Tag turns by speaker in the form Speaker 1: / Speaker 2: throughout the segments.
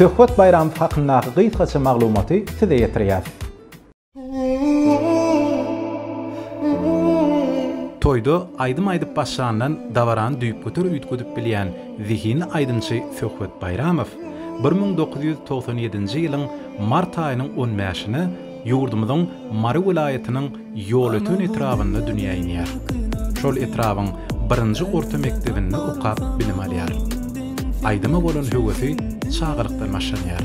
Speaker 1: Söhbet Baýramow hakyndaky gysgaça maglumaty size ýetirýäs. Toýda aýdym aýdyp başlandan dabarany düýpgöter üýtgedip bilýän zehinli aýdymçy Söhbet Baýramow bir müň dokuz ýüz togsan ýedinji ýylyň mart aýynyň on bäşine ýurdumyzyň Mary welaýatynyň Ýolöten etrabynda dünýä inýär. Şol etrabyň birinji orta mekdebinde okap bilim alýar. Aýdyma bolan höwesi çagalykdan başlanýar.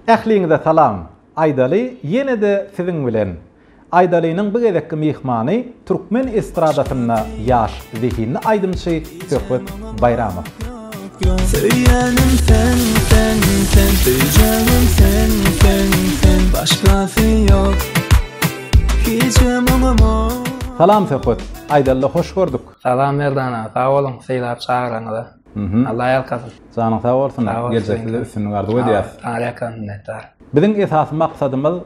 Speaker 1: Ähliňize salam! Aýdaly ýene-de siziň bilen. Aýdalynyň bu gezekki myhmany türkmen estradasynda ýaş zehinli aýdymçy Söhbet Baýramow. Söýýänim sen sen sen söýjägim sen sen sen başgasy ýok hijem oňamok. Salam Söhbet! Aýdalyda hoş gördük! Salam Merdan aga, sag boluň sylap çagyranyňyza. Alla ýalkasyn. Janyň sag bolsun, geljekde-de üstünlik arzuw edýäris. Saňa ýakamyz minnetdar. Biziň esasy maksadymyz.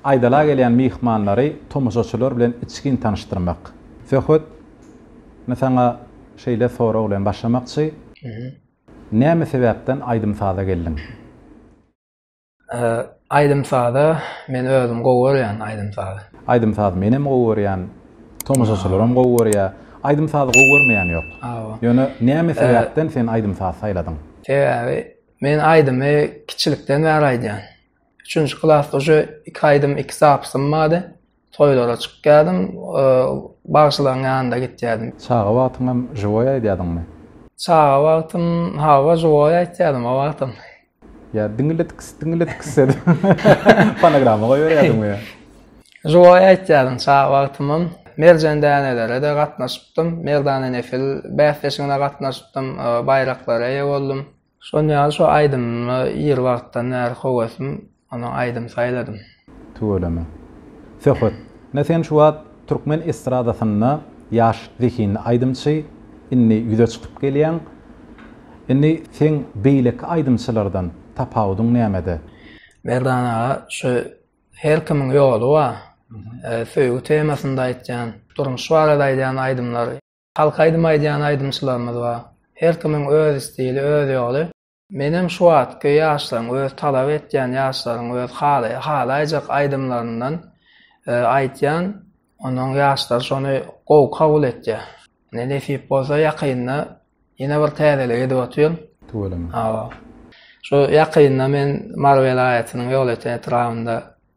Speaker 1: Aýdala gelýän myhmanlary tomaşaçylar bilen içgin tanyşdyrmak. Söhbet mi saňa şeýle sorag bilen başlamakçy, Näme sebäpden aýdym-saza geldiň? Aýdym-saza men özüm gowy görýän aýdym-sazy. Aýdym-sazy menem gowy görýän, tomaşaçylaram gowy görýär. Aýdym-sazy gowy görmeýän ýok. Ýöne näme sebäpden sen aýdym-saz saýladyň? Sebäbi men aýdymy kiçilikden bäri aýdýan. Üçünji klasda uje iki aýdym, iki zapsym bardy. Toýlara çykýardym, bagşylaryň ýanyna gitýärdim. Çaga wagtyňam žiwoý aýdýardyňmy? Çaga wagtym, hawa, žiwoý aýtýardym o wagtam. Ýa diňiletks, diňiletks edip fonograma goýberýärdiňmi ýa? Žiwoý aýtýardym çaga wagtymam. Merjen dänelere-de gatnaşypdym. Merdana Nefil bäsleşigine gatnaşypdym, baýraklara eýe boldum. Şol ýaly şo aýdymymy ir wagtdan bäri howesim ondan aýdym saýladym. Tüweleme. Söhbet. Ne sen şu wagt türkmen estradasynda ýaş zehinli aýdymçy, indi ýüze çykyp gelýäň. Indi seň beýleki aýdymçylardan tapawudyň nämede? Merdan aga şu her kimiň ýoly bar. Söýgi temasynda aýtýan, durmuş barada aýdýan aýdymlar. Halk aýdym aýdýan aýdymçylarymyz bar. Her kimiň öz stili, öz ýoly. Menem şu wagtky ýaşlaryň, öz talap etýän ýaşlaryň öz halaý, halaýjak aýdymlaryndan aýtýan. Onuň ýaşlar şony gowy kabul etýär. Ine nesip bolsa ýakynda ýene bir täzelik edip otyryn. Tüweleme. Hawa. Şu ýakynda men Mary welaýatynyň Ýolöten etrabynda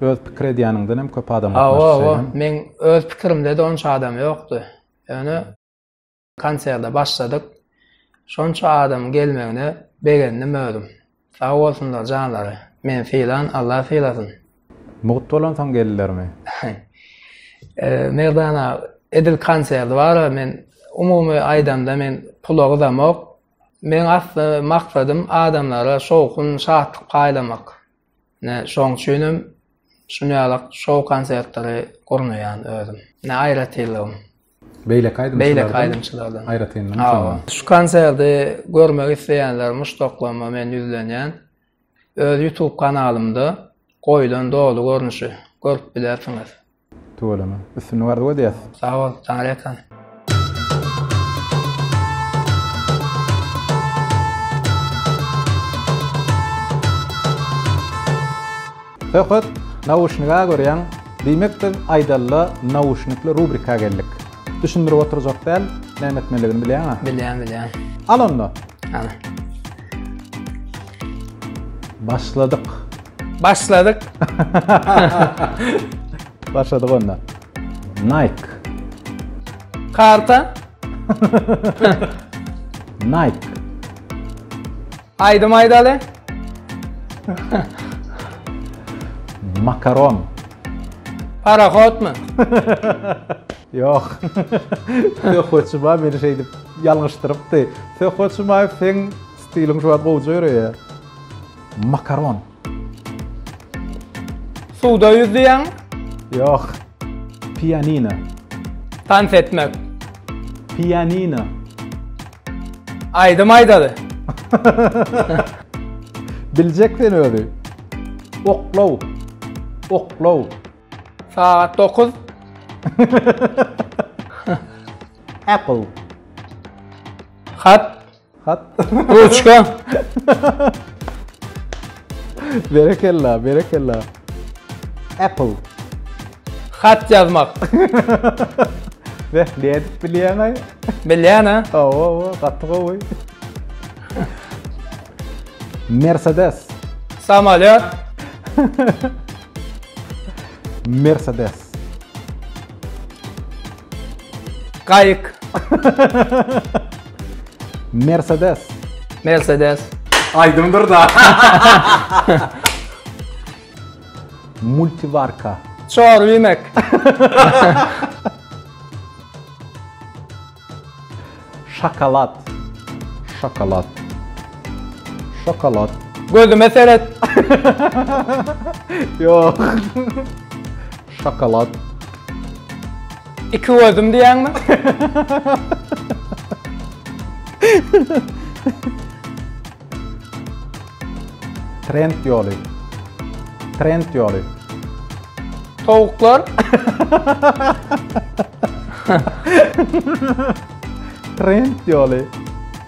Speaker 1: Öz pikir edýäniňden hem köp adam gatnaşdy şeýlemi? Hawa, meň öz pikirimde-de onça adam ýokdy. Ýöne konserde başladyk. Şonça adamyň gelmegine begendim özüm. Sag bolsunlar janlary. Meni sylan Alla sylasyn. Mugt bolansoň geldilermi? Merdan aga, edil konserdi bar-a, men umumy aýdamda men pula gyzamok. Meň asly maksadym adamlara şowhun, şatlyk paýlamak. Ine, şoň üçinem şunýalak şou konsertleri gurnaýan özüm. Ine, aýratynlygym. Beýleki aýdymçylardan. Beýleki aýdymçylardan. Aýratynlygyň şonda. Şu konserti görmek isleýänler muşdaklaryma men ýüzlenýän. Öz YouTube kanalymda goýlan doly görnüşi görüp bilersiňiz. Tüweleme. Üstünlik arzuw edýäs. Sag bol, Taňryýalkan. Söhbet nauşniga görýäň, diýmek biz aýdalla nauşnikli rubrika geldik. Düşündirip oturjak däl, näme etmeligini bilýäňä? Bilýän, bilýän. Al onda. Al. Başladyk. Başladyk. Başladyk onda. Nike. Karta. Nike. Aýdym aýdaly. Makaron. Parahodmy? Ýok. Söhbetçima meni şeýdip ýalňyşdyrypdy. Söhbetçima sen stiliň şu wagt gowja ýöreýär. Makaron. Suwda ýüzýäň. Ýok. Pianino. Tans etmek. Pianino. Aýdym aýdaly. Biljek sen özi. Oklaw. Oklaw. Sagat dokuz. Apple. Hat. Hat. Ruçka. berekella, berekella. Apple. Hat ýazmak. Ve ne edip bilýän aý? Bilýän ha? Awa, awa, gaty gowy. Mercedes. Samalýot. Mercedes. Gaýyk. Mercedes. Mercedes. Aýdymdyr da. Multivarka. Çor iýmek. Şokolad. Şokolad. Şokolad. Gözüme seret. Ýok. Şokolad. Iki gözüm diýýäňmi? Trend ýoly. Trend ýoly. Towuklar. Trend ýoly.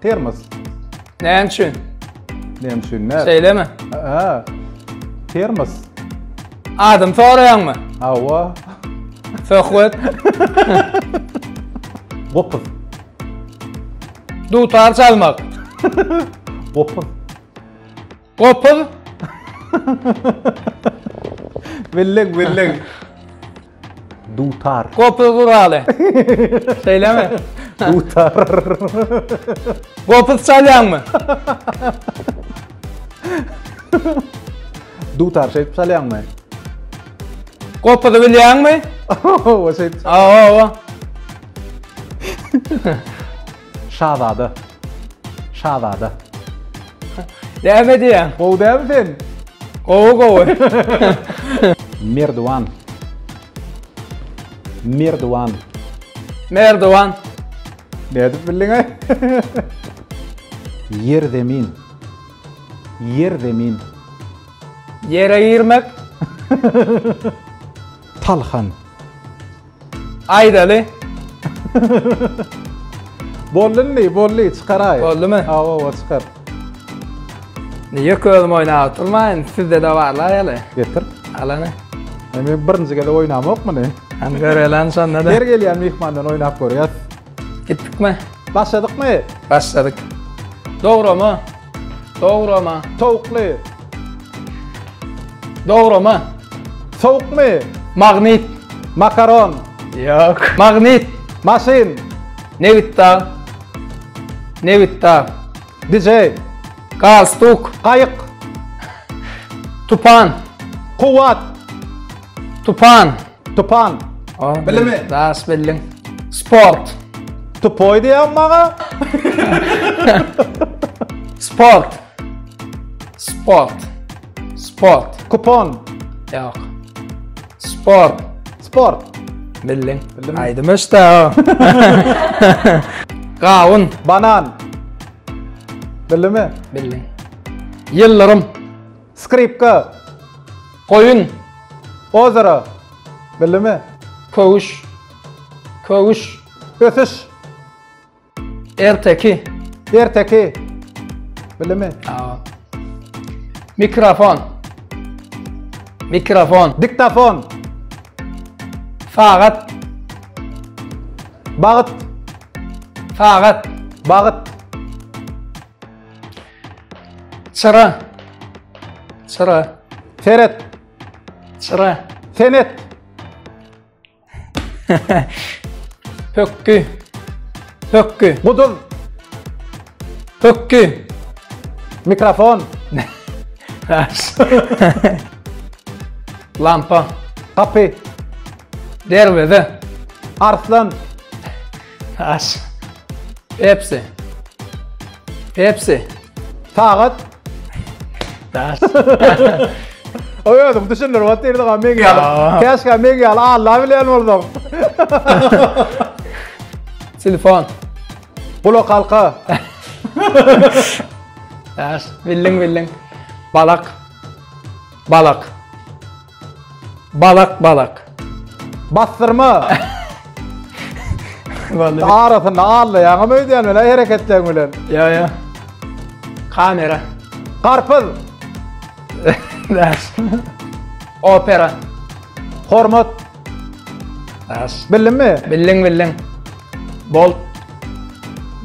Speaker 1: Termos. Näme üçin? Näme üçin? Näme? Şeýlemi? Ha. Termos. Adam soraýaňmy? Hawa. Söhbet. Gopuz. Dutar çalmak. Gopuz. Gopuz. Belleg belleg. Dutar. Gopuz guraly. Şeýlemi? Dutar. Gopuz çalýaňmy? Dutar şeýip çalýaňmy? Gopuzy bilýäňmi? Owa şeýip. Owa. Şazada. Şazada. Näme diýýäň? Gowy dälmi sen? Gowy gowy. Merdiwan. Merdiwan. Merdiwan. Nädip bildiň ay? Ýer zemin. Ýer zemin. Ýere girmek. Talhan. Aýdaly. Boldy indi, boldy, çykaraý. Boldumy? Awa, awa, çykar. Niye közüm oynap oturmayın? Sizde de var la yalı. Getir. Alanı. Yani birinci gele oynamok mu ne? Hem görelen şonda da. Her gelýän mihmandan oynap görýär. Gitdikmi? Başladykmy? Başladyk. Dograma. Dograma. Towukly. Dograma. Sowukmy? Magnit. Makaron. Ýok. Magnit. Maşyn. Nebitdag. Nebitdag. DJ. Galstuk. Gaýyk. Tupan. Kuwwat. Tupan. Tupan. Bilimi. Daş bildim. Sport. Tupoy diýen maňa. Sport. Sport. Sport. Kupon. Yok. Sport. Sport. Bildim. Bildim. Aydım işte o. Gavun. Banan. Bildim mi? Bildim. Yıldırım. Skripka. Goýun. Ozero. Bildimi? Köwüş. Köwüş. Ösüş. Erteki. Erteki. Bildimi? Mikrofon. Mikrofon. Diktafon. Sagat. Bagyt. Sagat. Bagyt. Çyra. Çyra. Seret. Çyra. Senet. Pökkü. Pökkü. Guduz. Pökkü. Mikrofon. Lampa. Kapy. Derveze. Arslan. Aç. Hepsi. Hepsi. Sagat. Aç. Oy özüm düşündür vat derdi ga men gel. Kaç ga men gel Allah bilen oldum. Telefon. Bula kalka. Aç. Bildin bildin. Balak. Balak. Balak balak. Bassyrma. Arasynda allaýaňam öýdýän bilen hereketleň bilen. Ýa ýa. Kamera. Garpyz. Opera. Hormat. As. Bildiňmi? Bildiň bildiň. Bolt.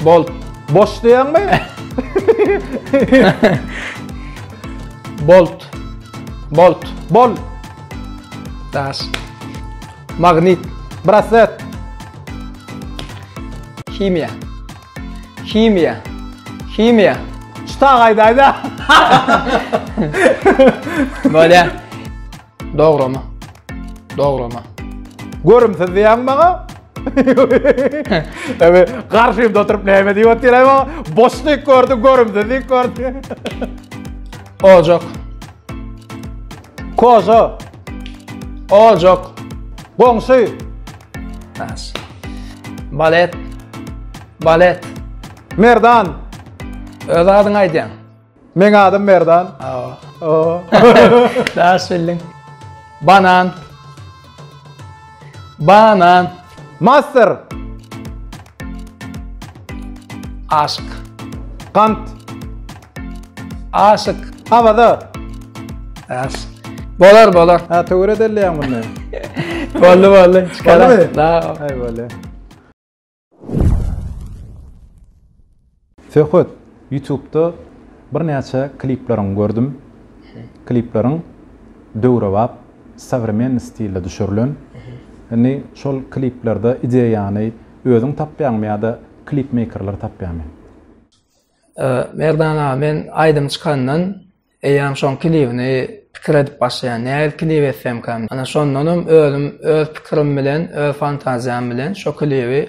Speaker 1: Bolt. Boş diýäňmi? Bolt. Bolt. Bol. Daş. Magnit. Braset. Himiýa. Himiýa. Himiýa. Çyta gaýdaýda. Bolýar. Dograma. Dograma. Görümsiz diýäň maňa? Ewe, garşymda oturyp näme diýip otyraý maňa? Boşlyk gördi, görümsiz diýip gördi. Ojak. Koza. Ojak. Goňşy. Nas. Balet. Balet. Merdan. Öz adyňy aýdýaň. Meň adım Merdan. Daş bildin. Banan. Banan. Master. Aşk. Kant. Aşk. Havada. Daş. Bolar bolar. Ha töwre delleýän bunu. Bolly bolly. Bolly. Da. Hay bolly. Söhbet ýutubda birnäçe klipleriňi gördüm. Klipleriň döwrebap, sowremennyý stilde düşürilen. Indi şol kliplerde ideýany özüň tapýaňmy ýa-da klipmeýkerler tapýarmy? Merdan aga men aýdym çykandan Eýýäm şoň kilibini pikir edip başlaýan, nähili kilip etsemkäm? Ana, şondanam özüm öz pikirim bilen, öz fantaziýam bilen şo kilibi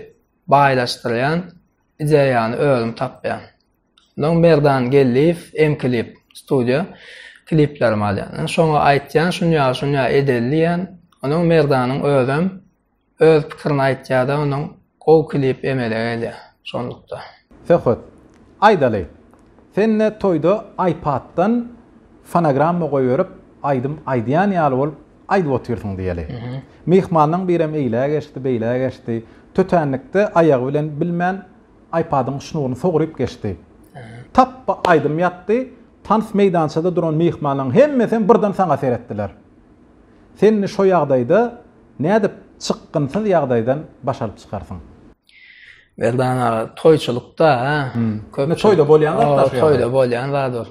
Speaker 1: baýlaşdyrýan ideýany özüm tapýan. Onsoň Merdan Geldiýew, M-klip studiýa, kiliplerimi alýan. Şoňa aýtýan, şunýaly-şunýaly edeli diýýän. Onsoň Merdanyň özem Öz pikirini aýtýada onuň gowy klip emele gelýä şonlukda. Söhbet. Aýdaly. Sende toýda iPaddan fonogramma goýberip aýdym aýdýan ýaly bolup aýdyp otyrsyň diýeli. Myhmanlaň birem eýlä geçdi, beýlä geçdi. Tötänlikde aýagy bilen bilmän iPadyň şnuryny sogryp geçdi. Tapba aýdym ýatdy, tans meýdançada duran myhmanlaň hemmesem birden saňa seretdiler. Senni şo ýagdaýda Nädip çykgynsyz ýagdaýdan baş alyp çykarsyň? Merdan aga, toýçulykda, hä? Köp toýda bolýan zat da. Toýda bolýan zat ol.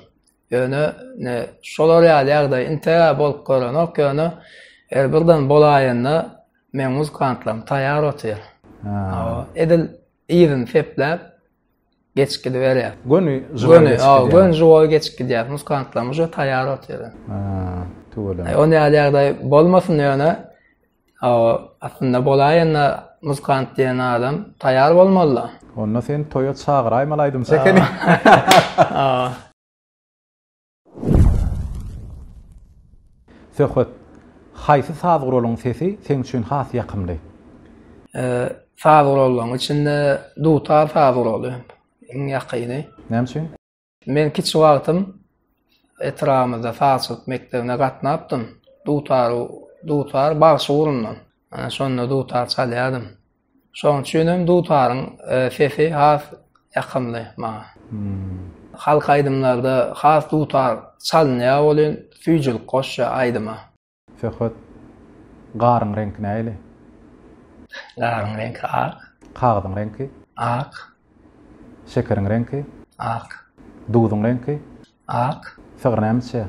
Speaker 1: Ýöne ne şolar ýaly ýagdaý inte bolup görenok, ýöne her birden bolaýanda meň muzykantlarym taýýar otyr. Edil yzyny sepläp, Geçip gidiberýär. Göni żywoý geçip gidýär. Göni, göni żywoý geçip gidýär. Muskantlar muje taýýar otyr. Tüweleme. Ony ýaly ýagdaý bolmasyn ýöne aslynda bolaýanda muskant diýen adam taýýar bolmaly-da. Onda seni toýa çagyraýmaly aýdym çekeni. Söhbet, Haýsy saz guralyň sesi seň üçin has ýakymly? Saz gurallaryň içinde dutar saz guraly iň ýakyny. Näme üçin? Men kiçi wagtym etrabymyzda sazçylyk mekdebine gatnapdym. Dutar, dutar bagşy gurundan. Ana şonda dutar çalýardym. Şoň üçin hem dutaryň sesi has ýakymly maňa. Halk aýdymlarda has dutar çalynýar welin süýjülik goşýar aýdyma. Söhbet Garyň reňki nähili? Garyň reňki ak. Kagyzyň reňki? Ak. Şekeriň reňki? Ak. Duzuň reňki? Ak. Sygyr näme içýär?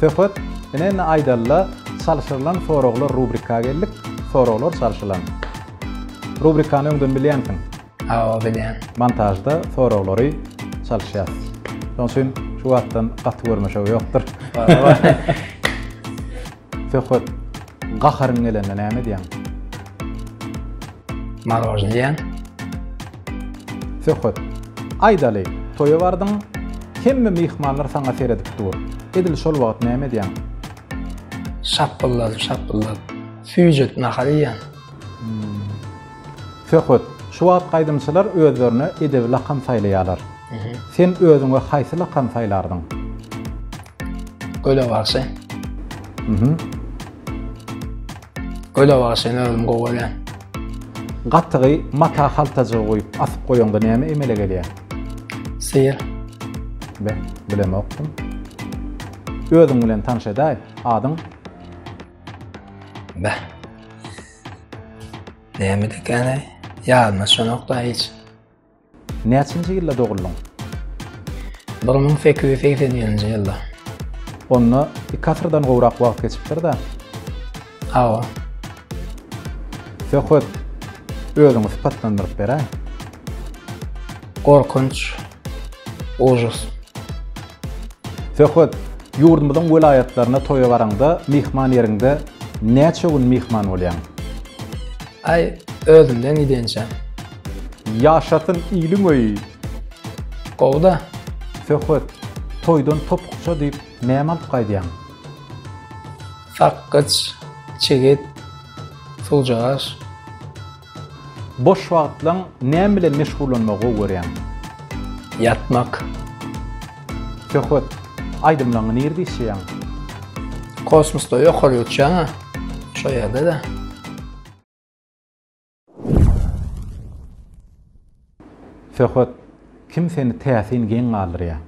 Speaker 1: Söhbet Ine-indi aýdalyla çalşyrylan soraglar rubrika geldik, soraglar çalşylan. Rubrikany öňden bilýänsiň? Hawa, bilýän. Montažda soraglary çalyşýas. Şonuň üçin şu wagtdan gaty görmeşew ýokdur. Söhbet. Gaharyň gelende näme edýäň? Morožny iýýän. Söhbet. Aýdaly, toýa bardyň, hemme myhmanlar saňa seredip dur. Edil şol wagt näme edýäň? Şapbyldadyp-şapbyldadyp, süýjet nahar iýýän. Söhbet, Şu wagt aýdymçylar özlerine edebi lakam saýlaýarlar. Sen özüňe haýsy lakamy saýlardyň? Göle bagşy. Göle bagşyny özüm gowy görýän. Gatygy mata haltajygy guýup asyp goýaňda näme emele gelýär? Syr. Be, bilemokdym. Özüň bilen tanyş edäý. Adyň? Beh. Näme dikene? Ýadyma şonokda hiç. Näçinji ýylda doguldyň? 1881-nji ýylda. Onda iki asyrdan gowrak wagt geçipdir-de? Hawa. Söhbet, özüňi sypatlandyryp beräý. Gorkunç. Ujus. Söhbet, Ýurdumyzyň welaýatlaryna toýa baraňda myhman ýeriňde näçe gün myhman bolýaň? Aý, özümden gidençä. Ýaşasyn iliň öýi! Gowy-da. Söhbet, Toýdan topukça diýip näme alyp gaýdýaň? Sakgyç, çigit, suwjagaş. Boş wagtlaň näme bilen meşgullanmagy gowy görýäň? Ýatmak. Söhbet aýdymlaňňy nirde işleýäň? Kosmosda ýokary uçýan a şo ýerde-de. Söhbet kim seni täsin geň galdyrýa?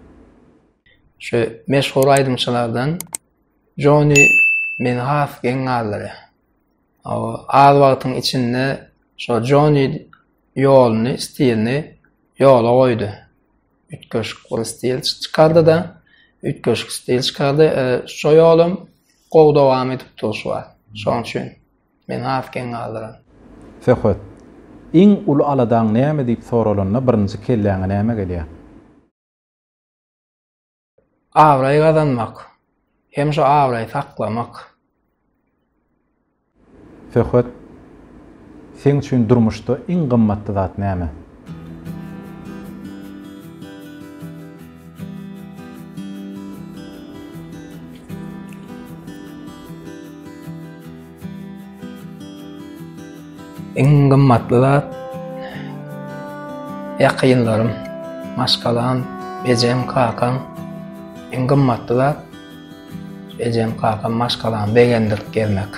Speaker 1: Şu meşhur aýdymçylardan Jony meni has geň galdyrýa. Az wagtyň içinde şo Joni ýoluny, stilini ýola goýdy. Üýtgeşik bir stil çykardy-da, üýtgeşik stil çykardy. E, şo ýolum gowy dowam edip dur şu wagt. Şoň üçin men has geň galdyran. Söhbet. Iň uly aladaň näme diýip soralanda birinji kelläňe näme gelýär? Abraý gazanmak hem şu abraý saklamak. Söhbet Seň üçin durmuşda iň gymmatly zat näme? Iň gymmatly zat ýakynlarym, maşgalam, ejem, kakam. Iň gymmatly zat ejem, kakam, maşgalamy begendirip gezmek.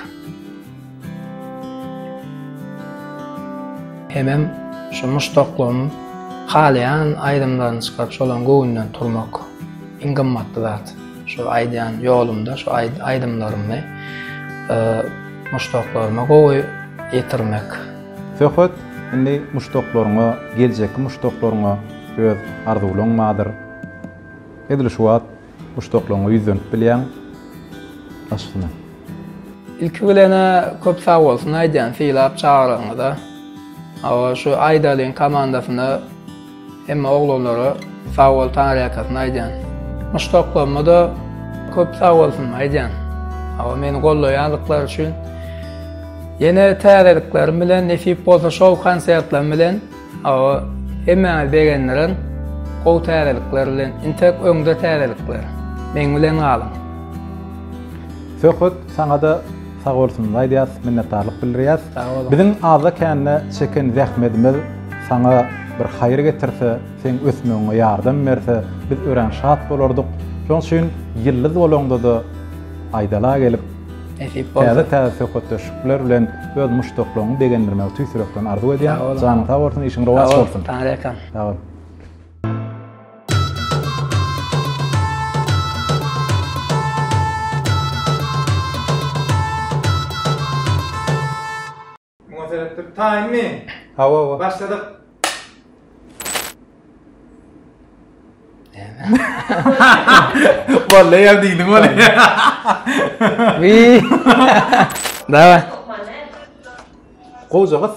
Speaker 1: Hemem şu muşdaklygym halaýan aýdymlaryny çykaryp şolaryň göwnünden turmak iň gymmatly zat. Şu aýdýan ýolumda şu aýdymlarymy muşdaklaryma gowy ýetirmek. Söhbet indi muşdaklaryňa, geljekki muşdaklaryňa öz arzuwlaň bardyr. Edil şu wagt muşdaklaryňa ýüzlenip bilýäň. Başyny. Ilki bilen-ä köp sag bolsun aýdýan sylap çagyrygyňyza. Hawa şu aýdalyň komandasyna. Hemme oglanlara sag bol taňryýakasyny aýdýan. Muşdaklaryma-da köp sag bolsun aýdýan. Hawa meni gollaýandyklary üçin. Ýene täzeliklerim bilen nesip bolsa şol konsertlerim bilen hawa hemmäňizi begendiren gowy täzelikler bilen intek öňde täzelikler. Meň bilen galyň. Söhbet saňada Sag bolsun aýdýas minnetdarlyk bildirýäs. Sag boluň. Biziň azda kände çeken zähmedimiz saňa bir haýyr getirse, seň ösmegiňe ýardam berse biz örän şat bolardyk. Şoň üçin ýyldyz bolaňdada aýdala gelip Nesip bolsa. Täze täze söhbetdeşlikler bilen öz muşdaklaryňy begendirmegi tüýs ýürekden arzuw edýän. Sag boluň. Janyň sag bolsun işiň rowaç bolsun. Sag boluň. Taňryýalkasyn. Sag bol. Muňa seredip dur. Taýynmy? Hawa, hawa. Başladyk. Walla ýa diýdim ony. Wi. Dawa. Goja gyz.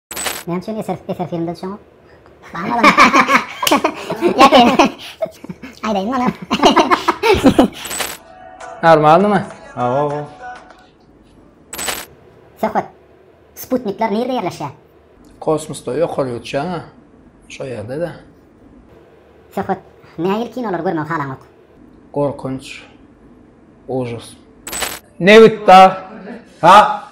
Speaker 1: Näme üçin eser eser filmde düşen yok? Bana bana. Yakayım. Aydayım bana. Normal mı? Awa awa. Söhbet. Sputnikler nerede yerleşiyor? Kosmosda yok oluyor uçağı ha. Şu yerde de. Söhbet. Ne yıl kinoları görmek halan yok? Korkunç. Ужас. Nebit da. Ha?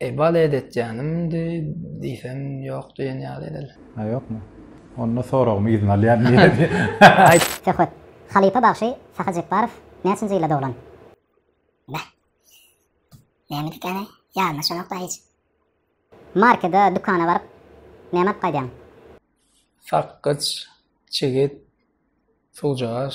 Speaker 1: Eý, balet etýänimdi diýsem, ýok diýen ýaly edil. Hä, ýokmy? Onda soragymy yzyna alýan diýeli. Aýt. Söhbet. Halypa bagşy Sahy Jepbarow näçinji ýylda doglan? Beh. Näme dükany? Ýadyma düşenok-da hiç. Markede, dükana baryp, näme alyp gaýdýaň? Sakgyç, çigit, suwjagaş.